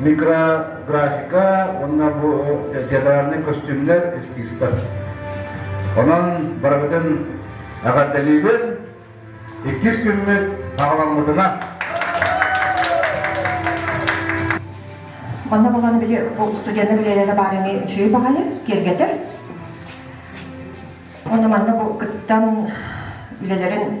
микрографика уонна бу театральный көстүүмнэр эскизтар. Онон барыгытын эҕэрдэлиибин. Иккис күммүт таҕаламмытына. Манна буланы били бу устудьены билиэнэ баарыны үчүгэй баҕайы киэргэтэр. Оны манна бу кыттан үлэлэрин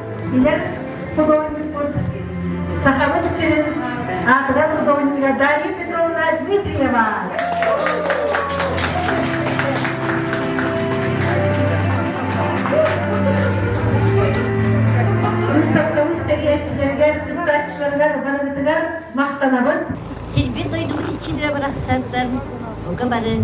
Билэр художникпут, Сахабыт сирин аатырар художнига Дарья Петровна Дмитриева. Быыстапкабыт тэрийээччилэригэр, кыттааччыларыгар барыгытыгар махтанабыт. Сирбит дойдубут иччилэрэ барахсаттар бука бары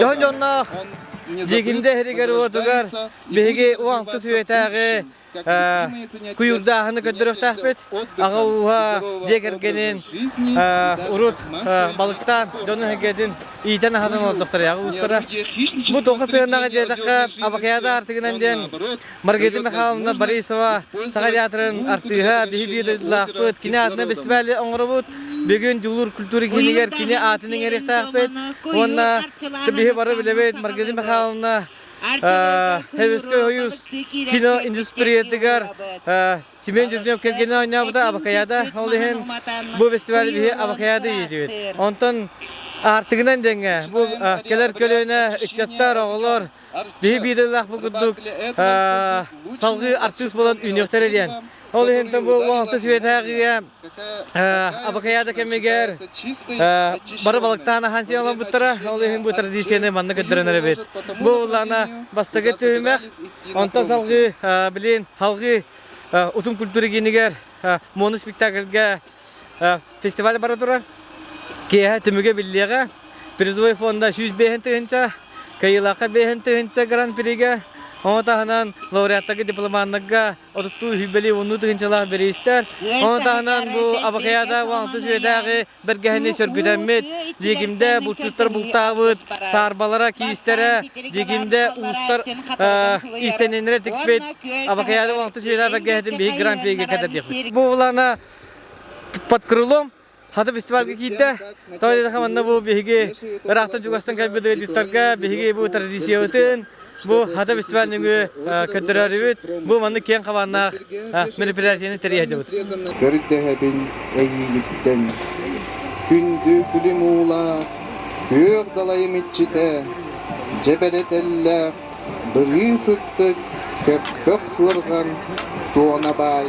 Дьон дьонноох Дьигимдэ иһигэр-уотугар биһиги уонгтус үйэтээҕи куйурдааһыны көрдөрөхтөөхпүт. Аҕа ууһа дьиэ кэргэнин урут балыктаан дьон эһгэтин иитэн аһатан олордохтор ааҕы уустара. Бу тоҕа сыанаҕа диэтэххэ Абакьяда артыгынан диэн Маргарита Михайловна Борисова Саха театрын артыыһа, биһиги дойдулаахпыт, кини аатынан бэстибээли оҥоробут. Бүгүн Дьулуур культура киинигэр кини аатын иҥэриэхтээхпит. Уонна биһи бары билэбит Маргарита Михайловна Хевскэй хойуус кино индустриятыгар Семен Дежнев кэргэнэ оонньообута Абакаяда ол иһин бу фестиваль биһи Абакаяда иитибит. Онтон Артыгынан дэҥҥэ бу кэлэр көлүөнэ ыччаттар, оҕолор Биһи биирэлээх курдук салгыы артыыс буолан үүнүөхтэр диэн. Ол иһинтэн бу Уалта Сүөдээҕигэ Абакаяда кэмигэр бары балыктаан ахан сиэн оламмыттара. Ол иһин бу традицияны манна көрдөрөнөр эбит. Бу улаана бастакы түһүмэх. Онтон салгыы, билин, халгыы утум культура киинигэр мону спектакльгэ фестиваль бара турар киэһэ түмүгэ биллиэҕэ призовой фонда сүүс биэһин тыһыынча кыйылаахха биэһин тыһыынча гран приге ону таһынан лауреаттарга дипломаннарга отуттуу үһүйбэлии уннуу тыһыынчалаах бириистэр ону таһынан бу абакаяда уангты сүөдээҕи бэргэһэни сөргүтэммит диэгимдэ булчуттар бултаабыт саарбалара киистэрэ диэгимдэ уустар иистэниннэрэ тикпит абакаяда уангты сүөдээ бэргэһэтин биһи гран приге кэтэрдиэхпит бу булана под крылом хата фестивальга киирдэ тоойдатха манна бу биһиги ыраахтан чугастан кэлбит директорга биһиги бу традициябытын бу хата фестиваль нөҥү көрдөрөрүбүт бу маннык киэҥ хабааннаах мероприятиені тэрийэдибит көрдөһөбүн эйиигиттэн күндү күлүм уулаах күөх далайым иччитэ дьэбэлэтэллээх Былыы сыттык, көппөх суорҕан, Туона баай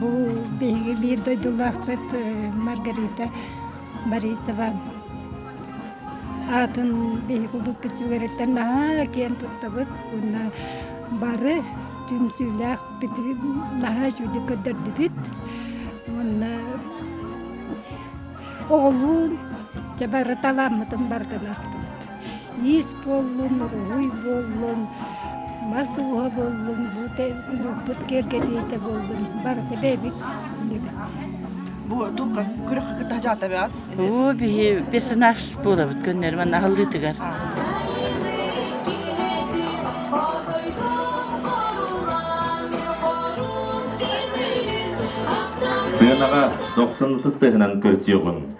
Бу биһиги биир дойдулаахпыт Маргарита Боритова аатын биһиги курдук бичигириттэн наһаа киэн туттабыт уонна бары түмсүүлээх наһаа үчүгдүк көрдөрдүбүт уонна оҕолуун чабары талааммытын бартын ахтыбыт иис буоллун, уруһуй буоллун, мас ууһа буоллун, буута уулуппут киэргэтиитэ буоллун, барыта бэйэбит иннибит. Бу күрэх кытта дьаатабят? Бу биһи персонаж буолабыт көннөрүмэн аһыллыытыгар. Сыанаҕа 90 тыһынан көрсүөҕүн.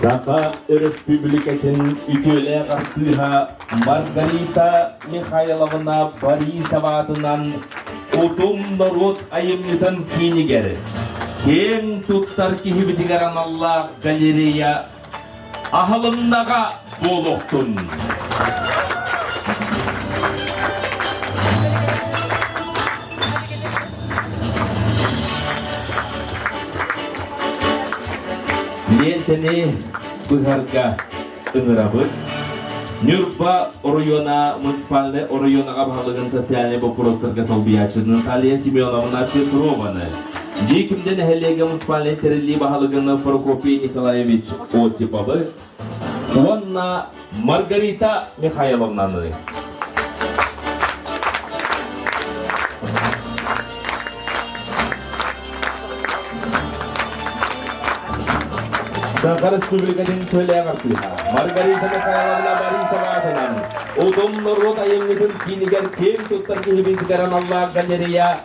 Саха Өрөспүүбүлүкэтин үтүөлээх артыыһа Маргарита Михайловна Борисова аатынан Утум норуот айымньытын киинигэр киэҥ туттар киһибитигэр аналлаах галерея Аһылыннаҕа буолуохтун! Лиэнтэни быһарга ыҥырабыт. Ньурба оройуона муниципальнай оройуонаҕа баһылыгын социальнай боппуруостарга солбуйааччы Наталья Семеновна Петрованы Дьиэ күндэ нэһилиэгэ муниципальнай тэриллии баһылыгын Прокопий Николаевич Осиповы уонна Маргарита Михайловнаны. Саха Республикатын төлөөх артыыһа Маргарита Михайловна Борисова атынан Утум норуот айымньытын киинигэр киэн туттар киһибит аналлаах Гатерия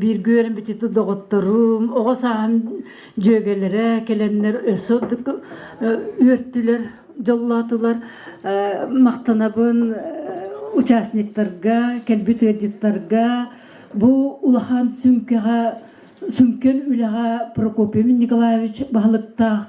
Бииргэ үөрэн бүтүтү доҕотторум, оҕо сааһым дьүөгэлэрэ кэлэннэр өссө үөртүлэр, дьоллоотулар. Махтанабын участниктарга, кэлбит ыалдьыттарга бу улахан сүмкэҕэ сүмкэн үлэҕэ Прокопий Николаевич баһылыктаах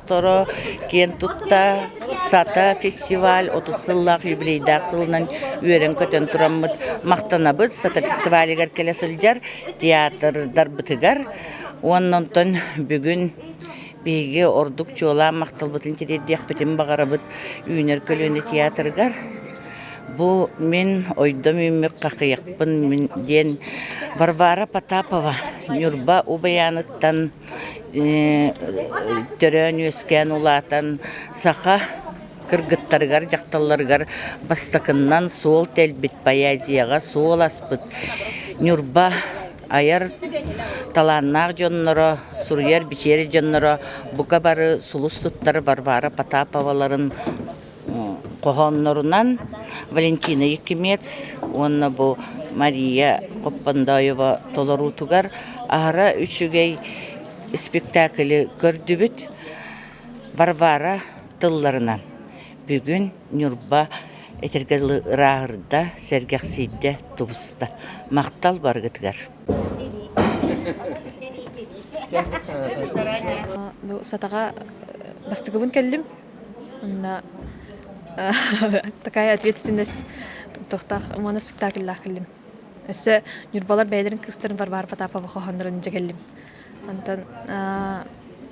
Доҕотторо киэн тутта, сата фестиваль отут сыллаах юбилейдаах сылынан үөрэн-көтөн тураммыт махтанабыт. Сата фестивалигар кэлэ сылдьар театрдарбытыгар уонна онтон бүгүн биһиги ордук чуолаан махталбытын тириэрдиэхпитин баҕарабыт Үүнэр көлүөнэ театрыгар. Бу мин ойдом үүммүк хахыйахпын диэн Варвара Потапова Ньурба Убаяныттан төрөөн-үөскээн улаатан саха кыргыттарыгар, дьахталларыгар бастакыннан суол тэлбит поэзияҕа суол аспыт Ньурба айар талааннаах дьонноро, суруйар-бичийэр дьонноро бука бары сулус туттар Варвара Потаповаларын хоһооннорунан Валентина Якимец уонна бу Мария Коппандоева толоруутугар аһара үчүгэй спектаклы көрдүбүт. Варвара тылларынан бүгүн Ньурба этэргэ дылы ырааһырда, сэргэхсийдэ, тубуста. Махтал баргытыгар. Бу сатаҕа бастыгыбын кэллим. такая ответственность туохтаах уонна спектакльлаах кэллим өссө ньурбалар бэйэлэрин кыыстарын варвара потапова хоһооннорун дьэгэллим онтон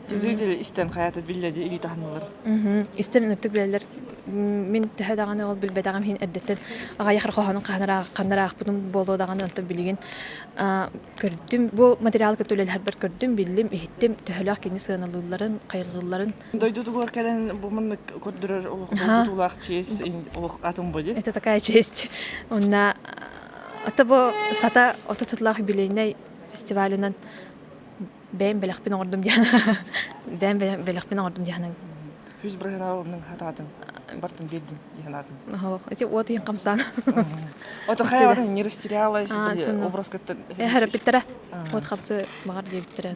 Жители истэн хаята биллэди илии таһанылар. Истэн ыныртык билэлер мин төһө даҕаны ол билбэтэҕим иһин эрдэттэн аҕайах хоһоонун ханнараахпытым буолуо даҕаны онтон билигин көрдүм бу материалы кытта үлэлэһэрбэр көрдүм биллим иһиттим төһөлөөх кини сыаналыылларын хайҕыылларын Дойдутугар кэлэн бу муннук көрдөрөр олох туулаах чиэс олох атын боди. Это такая честь. Онна ата бу сата ото тутулаах юбилейный фестивалынан бэйм бэлэхпин оҥордум диэн бэйм бэлэхпин оҥордум диэн Хүз бырыһынабымның хататын бартын бердин диханатын. Ага, эти вот ин камсан. Ото хаяр не растерялась образ катта. Э, харапиттера. Вот хапсы багар диэбиттера.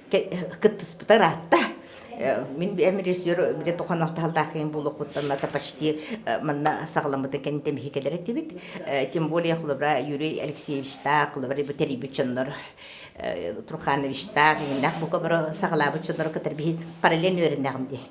кыттыспытар аатта мин эм режиссер били тохон ортаһалтаахын булуохпуттан ата почти манна саҕаламмыты кэн тэмихикелер этибит тем более хлывра юрий алексеевичтаах хлывра бутэрийбит чоннор трухановичтаах иннах бука бара саҕалаабыт чоннору кытар биһи параллель үөрэннэҕим дии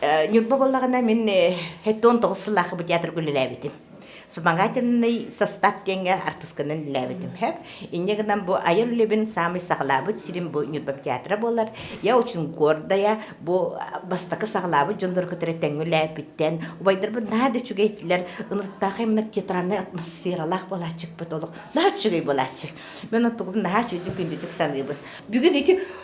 Э, Ньурба боллаҕына мин э, хэттон тоҕус сыллаахы бу театрга үлэлээбитим. Вспомогательный состав диэҥҥэ артысканан үлэлээбитим. Хэп инньэ гынан бу айар үлэбин саамай саҕалаабыт сирим бу Ньурба театра буолар. Я очень гордая бу бастакы саҕалаабыт дьоннор кытары тэҥҥэ үлэлээпиттэн убайдарбын наһаа да үчүгэй этилэр. Ынырыктаах иммер театральнай атмосфералаах буолааччыкпыт олох наһаа үчүгэй буолааччы. Мен оттугум наһаа үчүгэй күндүтүк саныыбын. Бүгүн ити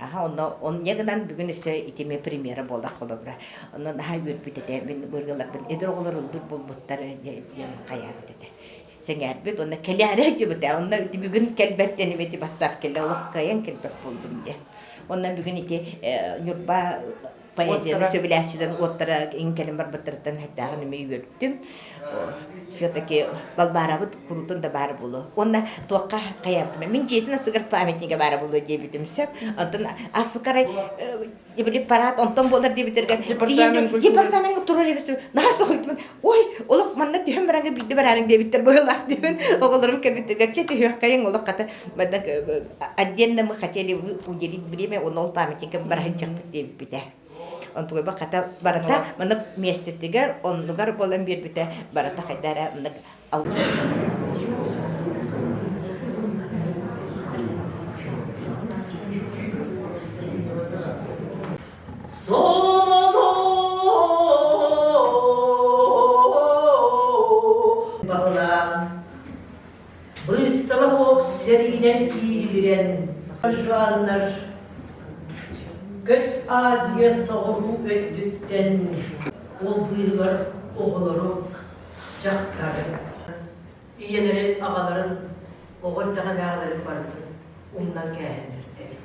Аха, онно онньа гынан бүгүн өссө итими премьера буоллах холобура. Онон наһаа үөрбүт этэ. Мин быргыларбын эдэр оҕолор ыллыыр булбуттар диэн хайаабыт этэ. Сэҥээрбит уонна кэлээри дьыбыт э, онно бүгүн кэлбэт диэн эти бассаап кэлэ олох кыайан кэлбэт буолдум дии. Онно бүгүн ити э, Ньурба поэзияны сөбүлээччилэрин уоттара иҥкэлин барбыттарыттан эрдээҕин эмиэ үөрдүм все-таки балбаарабыт куруутун да баара буолуо уонна туохха хайаантым мин дьиэтин аттыгар памятнига баара буолуо диэбитим сөп оттон аспыкарай э, препарат онтон буолар диэбиттэргэ департамент туруор эбит наһаа соһуйдум Ой, олох манна түһэн бараҥҥа биирдэ бараарыҥ диэбиттэр быһылаах диэбин оҕолорум кэлбиттэригэр чэ түһүөххэйиҥ олох хата манна отдельно мы хотели вы уделить время он ол памятникам бараһынчахпыт диэбиппитэ онтугуйба хата барата манна миэстэтигэр оннугар буолан биэрбитэ барата хайда эрэ маннык алла Баҕалаан быстала ох сэриинэн иирилирэн сахажуаннар көс Азия соҕуруу өттүттэн улбыыгар оҕолору, дьахтары, ийэлэрин, аҕаларын, оҕо эрдэҕинээҕилэрин барытын умнан кээһиннэртэбит.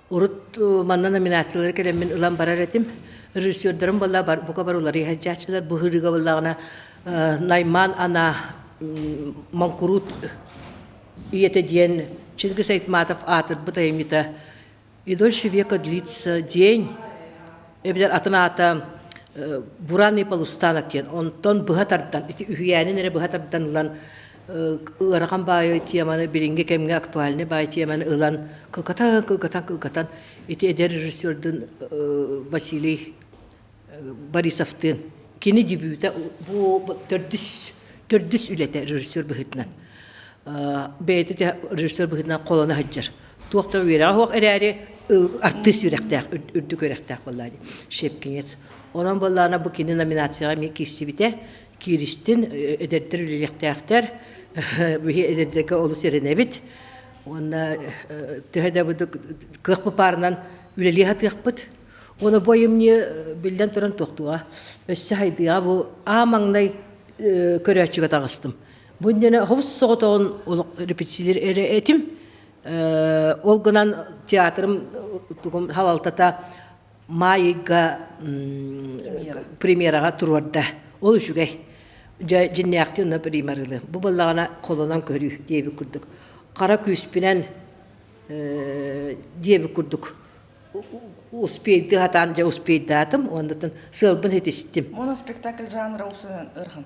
Урут манна номинациялары кэлэммин ылан барар этим. Режиссердарым буолла бука бар уларыйа сылдьааччылар. Бу ыһырыыга буоллаҕына Найман Ана Моҥкуруут ийэтэ диэн Чингис Айтматов аатырбыт айымньыта «Идольщи века длится день» эбэтэр атын аата «Буранный полустанок» диэн. Онтон быһа тардан, ити үһүйээнин эрэ быһа тардан ылан ыарахан баайы теманы билинги кэмге актуальный баай теманы ылан кылкатан кылкатан кылкатан ити эдэр режиссердун Василий Борисовтыын кини дебюта бу төрдүс төрдүс үлэтэ режиссер быһытынан бэйэтэ режиссер быһытынан холоно сылдьар туох да үөрэҕэ суох эрээри артыыс үрэхтээх үрдүк үрэхтээх буоллаа ди шепкинец онон буоллаана бу кини номинацияҕа эмиэ киирсибитэ кииристин эдэрдэр үлэлиэхтээхтэр биһи эдэрдэргэ олус эрэнэбит уонна төһө да быдык кыах бупаарынан үлэлии сатыахпыт уона бу айымньы биллэн туран туохтуга өссө хайдыга бу аа маҥнай көрөөччүгэ таҕыстым бу иннинэ хобус соҕотоҕун олох репетициялар эрэ этим ол гынан театрым тугум халалтата Маайыйга премьераҕа туруорда. Ол үчүгэй. Дьэ, дьиннээхти уна примарылы. Бу быллаҕана холонон көрүү диэбит курдук. Хара күүспүнэн диэбит курдук успейды хатаан дьэ успейдаатым уоннатын сыалбын хитистим. Моно спектакль жанра упсанан ырхан.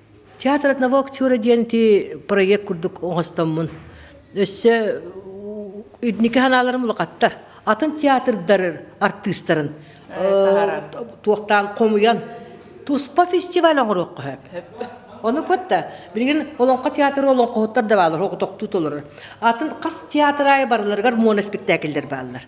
Театр одного актера диэн ити проект курдук оҥостоммун. Өссө инники санааларым улахаттар. Атын театрдар артыыстарын туохтаан хомуйан туспа фестиваль оҥоруохха сөп. Ону кытта билигин Олоҥхо театры олоҥхоһуттар да баалар, хоҕотохтуу толорор. Атын хас театр аайы барыларыгар моно спектакльлэр бааллар.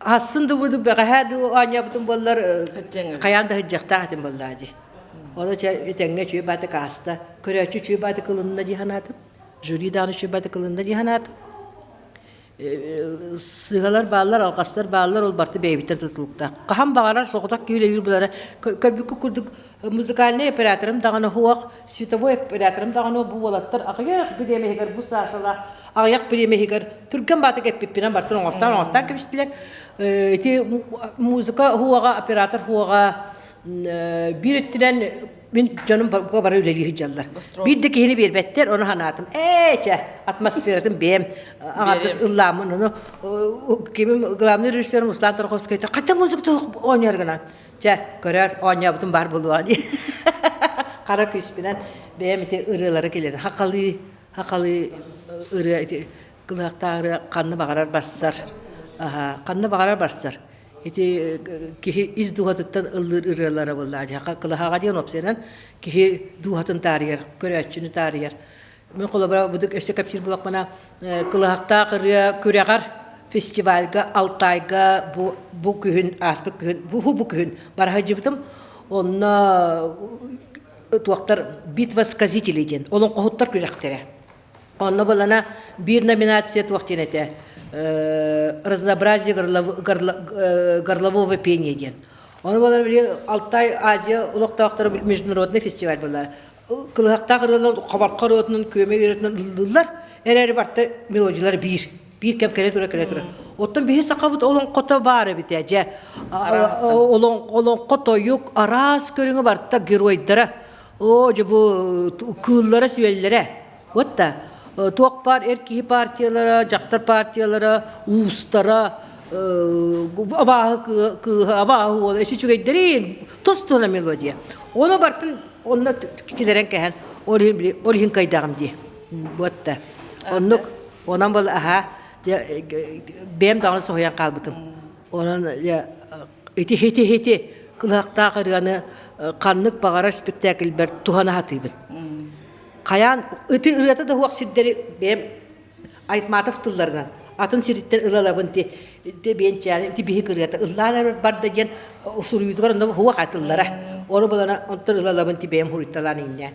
Асын да буду бэҕэһээ дуу оонньообутум буоллар хайаан да сыдьахтаах этим буоллаа дии. Ону чэ итэҥҥэ үчүгэй баатык ааста. Көрөөччү үчүгэй баатык ылынна дии санаатым. Жюри даҕаны үчүгэй баатык ылынна дии санаатым. Сыһалар бааллар, алҕастар бааллар, ол барта бэйэбиттэн тутулуктаах. Хаһан баҕарар соҕотох киһилэриир булара көрбүккэ курдук музыкальный операторым даҕаны хуох световой операторым даҕаны бу уолаттар аҕыйах бириэмэһигэр бу саашалаах аҕыйах бириэмэһигэр түргэн баатык эппиппинэн бартын оҥостон оҥостон кэбистилэр ити музыка хуоҕа оператор хуоҕа биир өттүнэн мин дьонум бука бара үлэлии сылдьаллар биир да киһини биэрбэттэр ону санаатым ээ чэ атмосфератын бэйэм аҥардас ыллааммын ону кимим главный режиссерым руслан торговскайта хата музыка оонньоор гынан Чэ, көрөөр оонньообутум баар буолуоҕа дии. Хара күүспүнэн бэйэм ити ырыалары киллэрэн хахалыы хахалыы ырыа ити кылыахтаах ырыа ханна баҕарар барсар. Аһа, ханна баҕарар барсар. Ити киһи ис дууһатыттан ыллыыр ырыалара буоллаа. Дьахха кылаһаҕа диэн опсайынан киһи дууһатын таарыйар, көрөөччүнү таарыйар. Мы холобура быдык өссө кэпсиир булахпына кылаһахтаах ырыа күрэҕэр фестивальга Алтайга бу бу күһүн ааспыт күһүн бу бу күһүн бараха жыбытым онно туохтар битва сказителей диэн олон хоһуттар күрэхтэрэ онно балана биир номинация туох диэн этэ разнообразие горлового пения диэн оны балар Алтай Азия олохтоохторо международный фестиваль была кылыһахтаах ырыалар хабарха ырыатынан күөмэй ырыатынан ыллыллар эрээри барта мелодиялар биир биир кэм кэлэ тура кэлэ тура оттон биһи сахабыт олоҥхото баар эбит ээ дьэ олоҥхо тойук араас көрүҥэ барта геройдара оо дьэ бу кыыллара сүөллэрэ Вот да туох баар эр киһи партиялара, дьахтар партиялара, уустара, абааһы кыыһа, абааһы уола, эси үчүгэйдэрин тустуна мелодия. Оны бартын онна килерен кэһэн ол иһин кайдагым ди. Вот да. Оннук онан был аха бэм даҕаны соһуйан хаалбытым. Онон Ити-һити-һити кылыһахтаах ырыаны ханнык баҕарар спектакльбэр туһана сатыыбын. Хайаан ити ырыата да суох сирдэри бэйэм Айтматов тылларынан атын сириттэн ылалабын ти биэнчээнин ити биһик ырыата ыллаан эрэ барда диэн суруйуутугар онно суох тыллара. Ону булана онтон ылалабын ти бэйэм суруйталаан иҥнээн.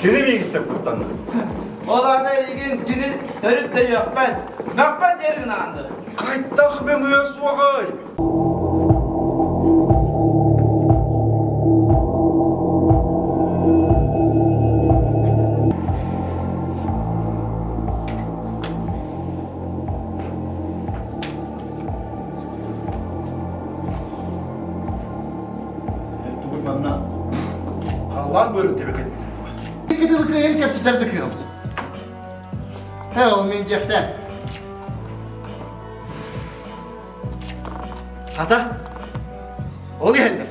Кини миигиттэн куттанна. Ол аны эйигин кини төрүт да үөхпэт, мөхпөт диэр гынаанды. Хайдах мөҥүө суоҕай? Тугуй манна халлаан быарын тэбэ кэлбитин дуо? Кытыл кыайын кэпсэтэр да кыамсым. Һэ, ол мен диэхтэ. Ата, ол иһэллэр.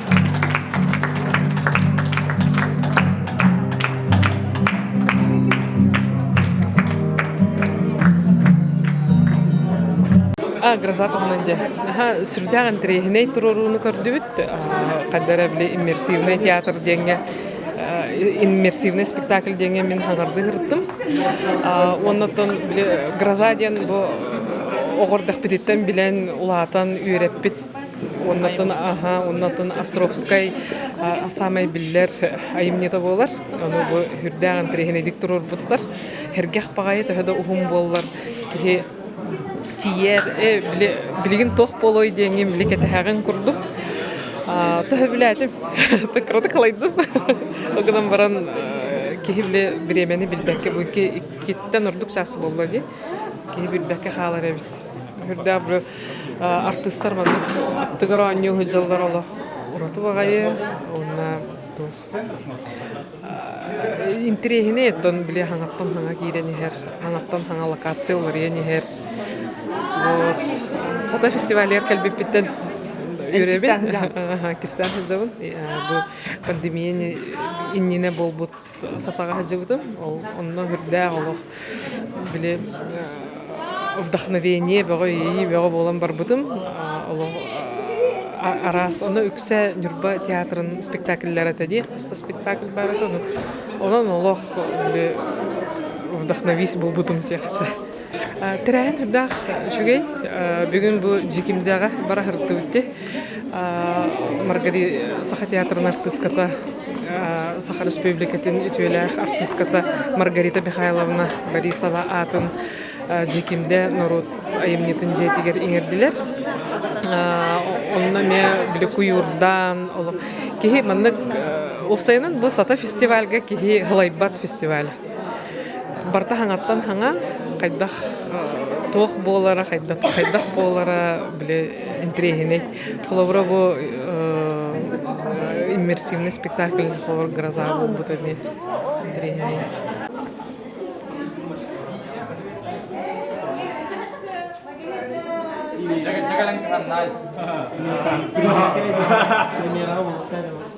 А, гроза тоҕунан дьэ. Аха, сүрдээх интэриэһинэй туруорууну көрдүбүт. Хайдара били иммерсивный театр диэҥҥэ иммерсивный спектакль диэҥҥэ мин хаҥарды сырыттым. Оннуттан били гроза диэн бу оҕордохпититтэн билэн, улаатан үөрэппит Оннотун аха, оннотун Островскай саамай биллэр айымньыта буолар. Ону бу үрдээх интэриэһинэйдик туруорбуттар. Хэргэх баҕайы төһө да уһун буоллар, киһи тиийэр, э, билигин туох буолуой диэҥҥин били кэтэһэҕин курдук. Төһө билээтим, кыратык халайдым. Ол гынан баран киһи били бириэмэни билбэккэ бу иккиттэн ордук саас буолла дии. Киһи билбэккэ хаалар эбит. Үрдээх артыыстар манна аттыгар оонньуу сылдьаллар олох ураты баҕайы уонна туох интириэһинэй оттон били хаҥаттан хаҥа киирэн иһэр хаҥаттан хаҥа локация уларыйан иһэр вот сата фестивалер кэлбиппиттэн үөрэбин кистээн сылдьабын бу пандемия иннинэ буолбут сатаҕаһдьыбытым ол онно үрдээх олох били вдохновение бөҕө иэйии бөҕө буолан барбытым олох араас ону үксэ Ньурба театрын спектакльлара этэ дии хаста спектакль баар этэ онон олох вдохновись булбутум диэхчэ Тирәһин үрдээх үчүгэй. Бүгүн бу Дьикимдээҕэ бара сырдыбытти. Маргарита Саха театрын артыыската, Саха Республикатын үтүөлээх артыыската Маргарита Михайловна Борисова аатын Дьикимдэ норуот айымньытын дьиэтигэр иҥэрдилэр. Онно эмиэ били куйуурдаан олох киһи маннык уопсайынан бу сата фестивальга киһи ылайбат фестиваль. Барыта хаҥаттан хаҥа, хайдах туох буолара, хайдах, хайдах буолара, били интриэһинэй. Холобура бу иммерсивный спектакль холобур «Гроза» буолбут ини интриэһинэй. Жагалан ханнаай. Премьераҕа болтаа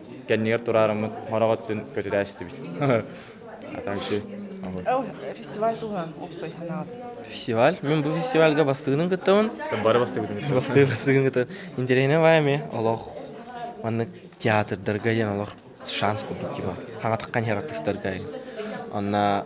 кэннигэр тураарыммыт хороҕ өттүн көтүрээ истибит. Фестиваль туһан уопсай Фестиваль? Мен бу фестивальга бастыгынын кыттабын. Бары бастыгын. Бастыгын бастыгын кытта. Интересневая ме олох маннык театрдарга диэн олох шанс курдук киһи хаҥатыккан хер артыстарга онна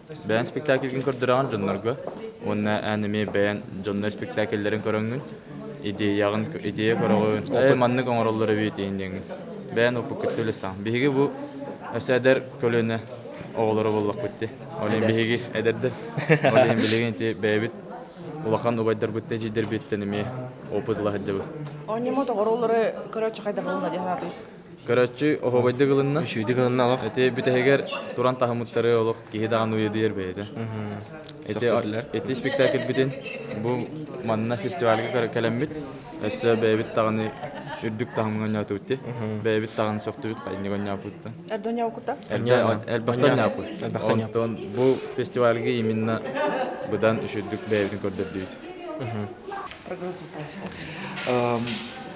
Бэйэн спектакльгин көрдүрэҕин дьоннорго уонна эн эмиэ бэйэн дьонно спектакльлэрин көрөҥҥүн, идеяҕын, идея көрөҕүн, э, маннык оҥороллор эбит диэн диэҥҥин. Бэйэн оппуккүттэ үлэстэҕин. Биһиги бу өссө эдэр көлүөнэ оҕолоро буоллахпыт дии. Ол иһин биһиги эдэрдэр, ол иһин билигин ити бэйэбит улахан убайдарбыт дьидэрбиттэн эмиэ опыт ыла сылдьабыт. Онньоммут оҕолору көрөөччү хайдах буолла дии санаатыҥ? Көрөччү оһуобайдык ылынна. Үчүгэйдик ылынна олох. Эти бүтэһигэр туран таһымыттары олох киһи даҕаны уйадыйар бэйэтэ. Эти эти спектакльбитин бу манна фестивальга кэлэммит. Өссө бэйэбит даҕаны үрдүк таһымга онньоотубут. Бэйэбит даҕаны сөхтүбүт хайынньык онньооппутта. Эрдэ онньооппута? Элбэхтэн ньааппыт. Элбэхтэн Онтон бу фестивальга именно быдан үчүрдүк бэйэбитин көрдөрдүбүт. Прогресс